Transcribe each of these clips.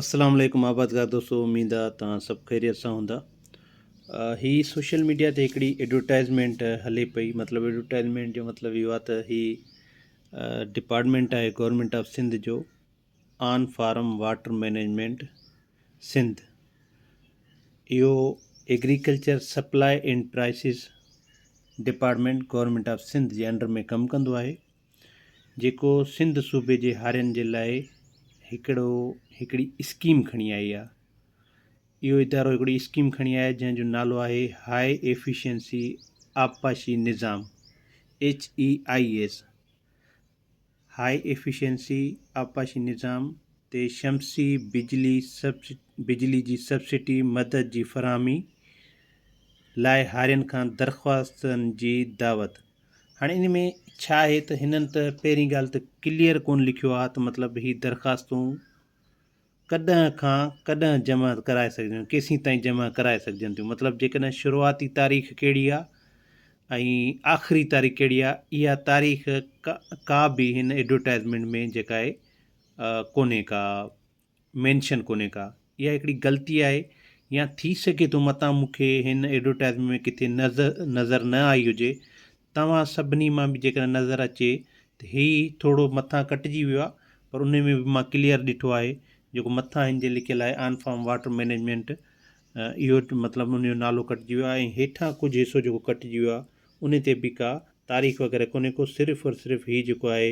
السلام عليڪم آبادگار دوستو اميد آ تان سڀ خيريت سان هوندا هي سوشل ميڊيا تي هڪڙي ايڊورٽائزمينٽ هلي پئي مطلب ايڊورٽائزمينٽ جو مطلب اهو آ ته هي ڊپارٽمينٽ آهي گورنمنٽ آف سنڌ جو on farm water management Sindh اهو agriculture supply and prices department government of Sindh جي انڊر ۾ ڪم ڪندو آهي جيڪو سنڌ صوبي جي هارين جي لاء هڪڙو هڪڙي اسڪيم کڻي آئي آهي اهو ادارو هڪڙي اسڪيم کڻي آئي جنهن جو نالو آهي هاء ايفيشنسي آبپاشي نظام H E I S high efficiency آبپاشي نظام تي شمسي بجلي سبسڊ بجلي جي سبسڊي مدد جي فراهمي لاء هارين کان درخواستن جي دعوت هاڻي ان ۾ ڇا آهي ته هنن ته پهرين ڳالهه ته ڪليئر ڪونه لکيو آهي ته مطلب هي درخواستون ڪڏهن کان ڪڏهن جمع ڪرائي سگهجن ڪيسين تائين جمع ڪرائي سگهجن ٿيون مطلب جيڪڏهن شروعاتي تاريخ ڪهڙي آهي ۽ آخري تاريخ ڪهڙي آهي اها تاريخ ڪا به هن ايڊورٽائزمينٽ ۾ جيڪا آهي ڪونهي ڪا مينشن ڪونهي ڪا اها هڪڙي غلطي آهي يا ٿي سگهي ٿو متان مون کي هن ايڊورٽائيزمينٽ ۾ ڪٿي نظر نه آئي هجي توهان سڀني مان به جيڪڏهن نظر اچي ته هي ٿورو مٿان ڪٽجي ويو آهي پر انهي ۾ به مان ڪليئر ڏٺو آهي جيڪو مٿان هن جي لکيل آهي آن فارم واٽر مينيجمينٽ اهو مطلب ان جو نالو ڪٽجي ويو آهي ۽ هيٺان ڪجهه حصو جيڪو ڪٽجي ويو آهي انهي تي به ڪا تاريخ وغيره ڪونهي ڪو صرف اور صرف هي جيڪو آهي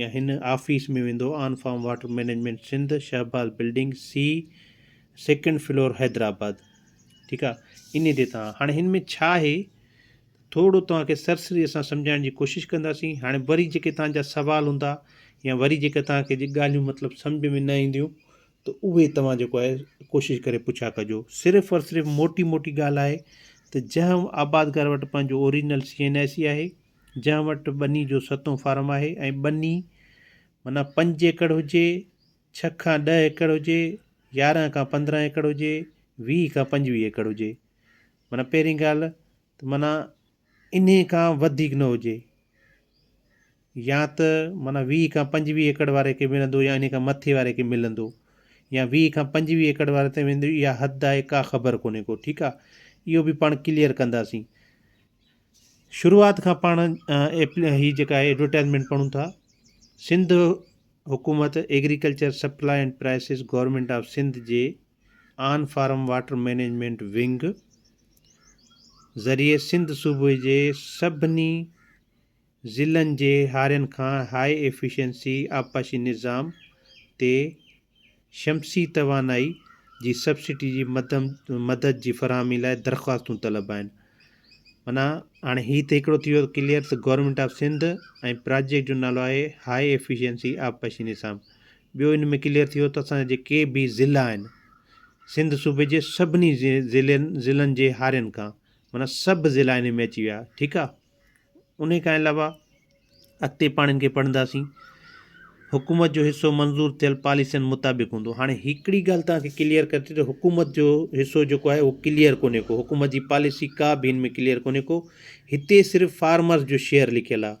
يا هن آفيس ۾ ويندو on farm water management Sindh Shahbaz building C second floor Hyderabad ٺيڪ آ اني تي توهان هاڻي هن ۾ ڇا آهي ٿورو توهان کي سرسري اسان سمجهائڻ جي ڪوشش ڪنداسين هاڻي وري جيڪي توهان جا سوال هوندا يا وري جيڪي توهان کي جي ڳالهيون مطلب سمجهه ۾ نه اينديون ته اهي توهان جيڪو آهي ڪوشش ڪري پڇا ڪجو صرف اور صرف موٽي موٽي ڳالهه آهي ته جنهن آبادگار وٽ پنهنجو original C N I C آهي جنهن وٽ ٻني جو ستون فارم آهي ۽ ٻني معنيٰ پنج ايڪڙ هجي، ڇهه کان ڏهه ايڪڙ هجي، يارهن کان پندرهن ايڪڙ هجي، ويهه کان پنجويهه ايڪڙ هجي. معنيٰ پهرين ڳالهه ته معنيٰ انهي کان وڌيڪ نه هجي يا ته معنيٰ ويهه کان پنجويهه ايڪڙ واري کي ملندو يا انهي کان مٿي واري کي ملندو يا ويهه کان پنجويهه ايڪڙ واري تائين ويندو اها حد آهي ڪا خبر ڪونهي ڪو ٺيڪ آهي اهو به پاڻ ڪليئر ڪنداسين. شروعات کان پاڻ هي جيڪا ايڊورٽائزمينٽ پڙهون ٿا سنڌ حڪومت agriculture supply and prices government of Sindh جي on farm water management wing ذريعي سنڌ صوبي جي سڀني ضلعن جي هارين کان هاء ايفيشنسي آبپاشي نظام تي شمسي توانائي جي سبسڊي جي مدد جي فراهمي لاء درخواستون طلب آهن معنيٰ هاڻي هي ته هڪڙو ٿي ويو ڪليئر ته گورنمينٽ آف سنڌ ۽ پراجيڪٽ جو نالو آهي هاء ايفيشنسي آبپاشي نظام ٻيو ان ۾ ڪليئر ٿي ويو ته اسان جا جيڪي به ضلع آهن سنڌ صوبي جي سڀني ضلعن جي هارين کان معنيٰ سڀ ضلع ان ۾ اچي ويا ٺيڪ آهي ان کان علاوه اڳتي پاڻ ان کي پڙهنداسين حڪومت جو حصو منظور ٿيل پاليسين مطابق هوندو هاڻي هڪڙي ڳالهه توهان کي ڪليئر ڪري ٿي ته حڪومت جو حصو جيڪو آهي اهو ڪليئر ڪونهي ڪو حڪومت جي پاليسي ڪا به هن ۾ ڪليئر ڪونهي ڪو هتي صرف فارمرز جو شيئر لکيل آهي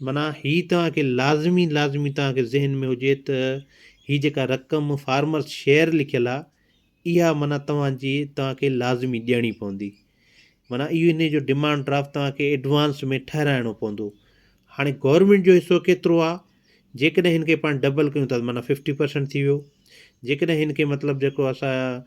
معنيٰ هي توهان کي لازمي لازمي توهان کي ذهن ۾ هجي ته هي جيڪا رقم فارمرس شيئر لکيل آهي اها معنيٰ توهان جي توهان کي لازمي ڏيڻي پوندي معنيٰ اهو ان جو ڊمانڊ ڊرافٽ توهان کي ايڊوانس ۾ ٺهرائڻو پوندو هاڻي گورنمينٽ جو حصو ڪيترو آهي جيڪڏهن هن کي پاڻ ڊبل ڪيون ٿا معنيٰ ففٽي پرسنٽ ٿي ويو جيڪڏهن هن کي مطلب جيڪو اسان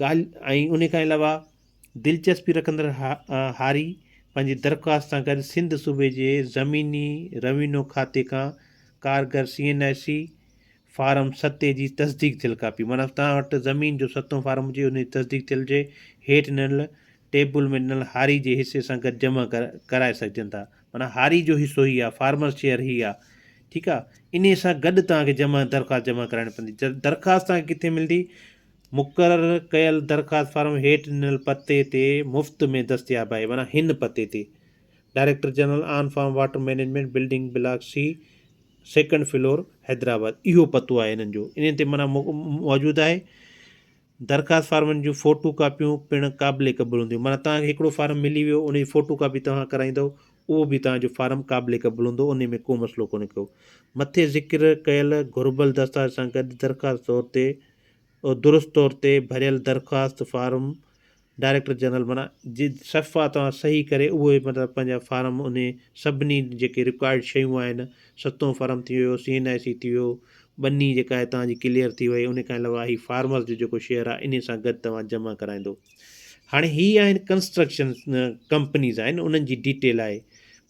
ڳالهه ۽ انهي کان علاوه دلچسپي رکندڙ هاري پنهنجي درخواست سان گڏ سنڌ صوبي جي زميني روينو کاتي کان ڪارگر C N I C form ستي جي تصديق ٿيل ڪاپي معنيٰ توهان وٽ زمين جو ستون فارم هجي انهي جي تصديق ٿيل جي هيٺ ڏنل ٽيبل ۾ ڏنل هاري جي حصي سان گڏ جمع ڪرائي سگهجن ٿا معنيٰ هاري جو حصو هي آهي فارمرز شيئر هي آهي ٺيڪ آهي انهي سان گڏ توهان کي جمع درخواست جمع ڪرائڻي پوندي درخواست توهان کي ڪٿي ملندي مقرر ڪيل درخواست فارم هيٺ ڏنل پتي تي مفت ۾ دستياب آهي معنيٰ هن پتي تي director general on farm water management building block C second floor Hyderabad اهو پتو آهي هنن جو انهي تي معنيٰ موجود آهي درخواست فارمن جون فوٽو ڪاپيون پڻ قابل قبول هونديون معنيٰ توهان کي هڪڙو فارم ملي ويو ان جي فوٽو ڪاپي توهان ڪرائيندو اهو به توهان جو فارم قابل قبول هوندو انهي ۾ ڪو مسئلو ڪونهي ڪو مٿي ذڪر ڪيل گهربل دستاويز سان گڏ درخواست طور تي درست طور تي ڀريل درخواست فارم ڊائريڪٽر جنرل معنيٰ جي صفحا توهان صحيح ڪري اهو مطلب پنهنجا فارم انهي سڀني جيڪي رڪوائرڊ شيون آهن ستون فرم ٿي ويو سي اين آء سي ٿي ويو ٻني جيڪا آهي توهان جي ڪليئر ٿي وئي انهي کان علاوه هي فارمرز جو جيڪو شيئر آهي انهي سان گڏ توهان جمع ڪرائيندو هاڻي هي آهن ڪنسٽرڪشن ڪمپنيز آهن انهن جي ڊيٽيل آهي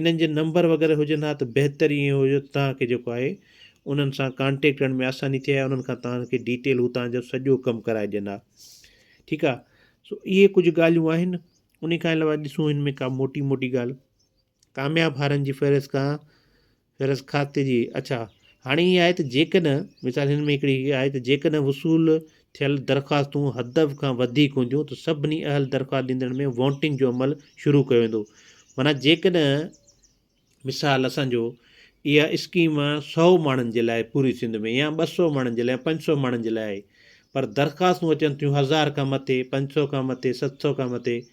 انهن جي نمبر وغيره هجن ها ته بهتر ائين هو جو توهان کي جيڪو آهي انهن سان ڪانٽيڪٽ ڪرڻ ۾ آساني ٿئي ها انهن کان توهان کي ڊيٽيل هو توهان جو سڄو ڪم ڪرائي ڏين ها ٺيڪ آهي سو اهي ڪجهه ڳالهيون آهن ان کان علاوه ڏسون هن ۾ ڪا موٽي موٽي ڳالهه ڪامياب هارن جي فهرست کان غرض کاتي جي اڇا هاڻي هي آهي ته جيڪڏهن مثال هن ۾ هڪڙي هي آهي ته جيڪڏهن وصول ٿيل درخواستون حدف کان وڌيڪ هونديون ته سڀني اهل درخواست ڏيندڙن ۾ وونٽنگ جو عمل شروع ڪيو ويندو معنيٰ جيڪڏهن مثال اسان جو اها اسڪيم سؤ ماڻهن جي لاء پوري سنڌ ۾ يا ٻه سؤ ماڻهن جي لاء پنج سؤ ماڻهن جي لاء آهي پر درخواستون اچن ٿيون هزار کان مٿي پنج سؤ کان مٿي ست سؤ کان مٿي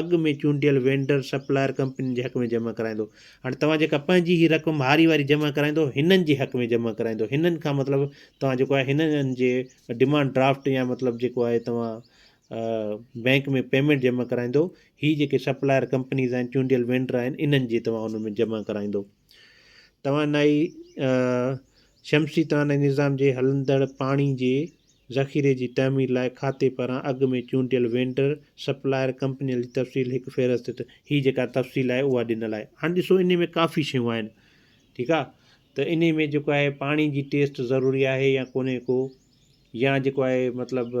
اڳ ۾ چونڊيل وينڊر، سپلائر، ڪمپنين جي حق ۾ جمع ڪرائيندو. هاڻي توهان جيڪا پنهنجي هي رقم هاري واري جمع ڪرائيندو، هنن جي حق ۾ جمع ڪرائيندو. هنن کان مطلب توهان جيڪو آهي هنن جي ڊيمانڊ ڊرافٽ يا مطلب جيڪو آهي توهان بئنڪ ۾ پيمينٽ جمع ڪرائيندو. هي جيڪي سپلائر ڪمپنيز آهن، چونڊيل وينڊر آهن، انهن جي توهان ان ۾ جمع ڪرائيندو. توانائي شمسي توانائي نظام جي هلندڙ پاڻي جي ذخيري جي تعمير لاء کاتي پاران اڳ ۾ چونڊيل وينڊر، سپلائر، ڪمپنين جي تفصيل هڪ فهرست تي هي جيڪا تفصيل آهي اها ڏنل آهي. هاڻي ڏسو انهي ۾ ڪافي شيون آهن ٺيڪ آهي ته انهي ۾ جيڪو آهي پاڻي جي ٽيسٽ ضروري آهي يا ڪونهي ڪو يا جيڪو آهي مطلب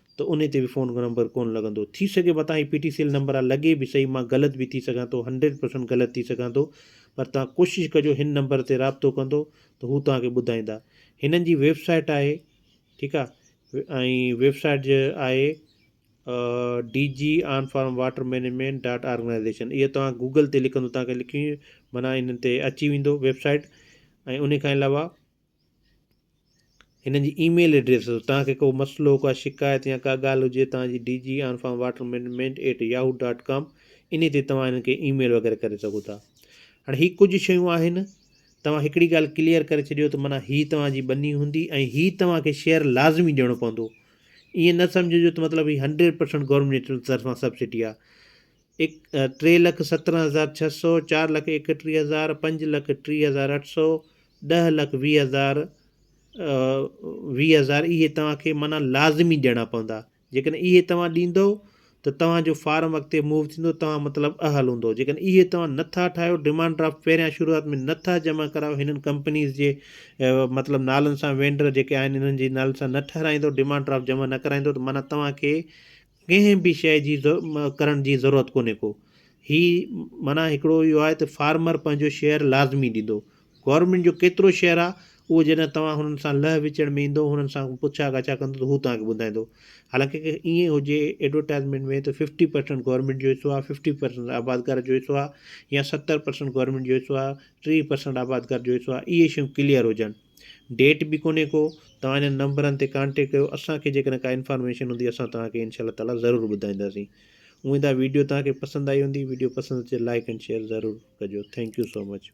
ته انهي تي به فون نمبر ڪون لڳندو ٿي سگهي متان هي P T C L number آ لڳي به صحيح مان غلط به ٿي سگهان ٿو هنڊريڊ پرسنٽ غلط ٿي سگهان ٿو پر توهان ڪوشش ڪجو هن نمبر تي رابطو ڪندو ته هو توهان کي ٻڌائيندا هنن جي ويب سائيٽ آهي ٺيڪ آ ۽ ويب سائيٽ جي آهي D G on farm water management dot organisation اهي توهان گوگل تي لکندو توهان کي لکي معنی هنن تي اچي ويندو ويب سائيٽ ۽ ان کان علاوه هنن جي اي ميل ايڊريس اٿو توهان کي ڪو مسئلو ڪا شڪايت يا ڪا ڳالهه هجي توهان جي D G on farm water management at Yahoo dot com انهي تي توهان هنن کي اي ميل وغيره ڪري سگهو ٿا هاڻي هي ڪجهه شيون آهن توهان هڪڙي ڳالهه ڪليئر ڪري ڇڏيو ته مانا هي توهان جي ٻني هوندي ۽ هي توهان کي شيئر لازمي ڏيڻو پوندو ائين نه سمجهجو ته مطلب هي هنڊريڊ پرسنٽ گورنمينٽ جي طرفان سبسڊي آ اڪ ٽي لک سترهن هزار ڇهه سؤ چار لک ايڪٽيهه هزار پنج لک ٽي هزار اٺ سؤ ڏهه لک ويهه هزار ويهه هزار اهي توهان کي معنيٰ لازمي ڏيڻا پوندا جيڪڏهن اهي توهان ڏيندو ته توهان جو فارم اڳتي موو ٿيندو توهان مطلب اهل هوندو جيڪڏهن اهي توهان نٿا ٺاهيو ڊيمانڊ ڊرافٽ پهريان شروعات ۾ نٿا جمع ڪرايو هنن ڪمپنيز جي مطلب نالن سان وينڊر جيڪي آهن انهن جي نالن سان نه ٺهرائيندو ڊيمانڊ ڊرافٽ جمع نه ڪرائيندو ته معنيٰ توهان کي ڪنهن به شيء جي ڪرڻ جي ضرورت ڪونهي ڪو هي معنيٰ هڪڙو اهو آهي ته فارمر پنهنجو شيئر لازمي ڏيندو گورنمينٽ جو ڪيترو شيئر آهي اهو جڏهن توهان هنن سان لهه وچڙ ۾ ايندو هنن سان پڇا ڳاڇا ڪندو ته هو توهان کي ٻڌائيندو حالانڪه ڪي ائين هجي ايڊورٽائزمينٽ ۾ ته ففٽي پرسنٽ گورنمينٽ جو حصو آهي ففٽي پرسنٽ آبادگار جو حصو آهي يا ستر پرسنٽ گورنمينٽ جو حصو آهي ٽيهه پرسنٽ آبادگار جو حصو آهي اهي شيون ڪليئر هجن ڊيٽ به ڪونهي ڪو توهان هنن نمبرن تي ڪانٽيڪٽ ڪيو اسان کي جيڪڏهن ڪا انفارميشن هوندي اسان توهان کي انشاء الله تعالي ضرور ٻڌائينداسين اميد آهي ويڊيو توهان کي پسند آئي هوندي ويڊيو پسند اچي ته لائڪ اينڊ شيئر ضرور ڪجو ٿينڪ يو سو مچ.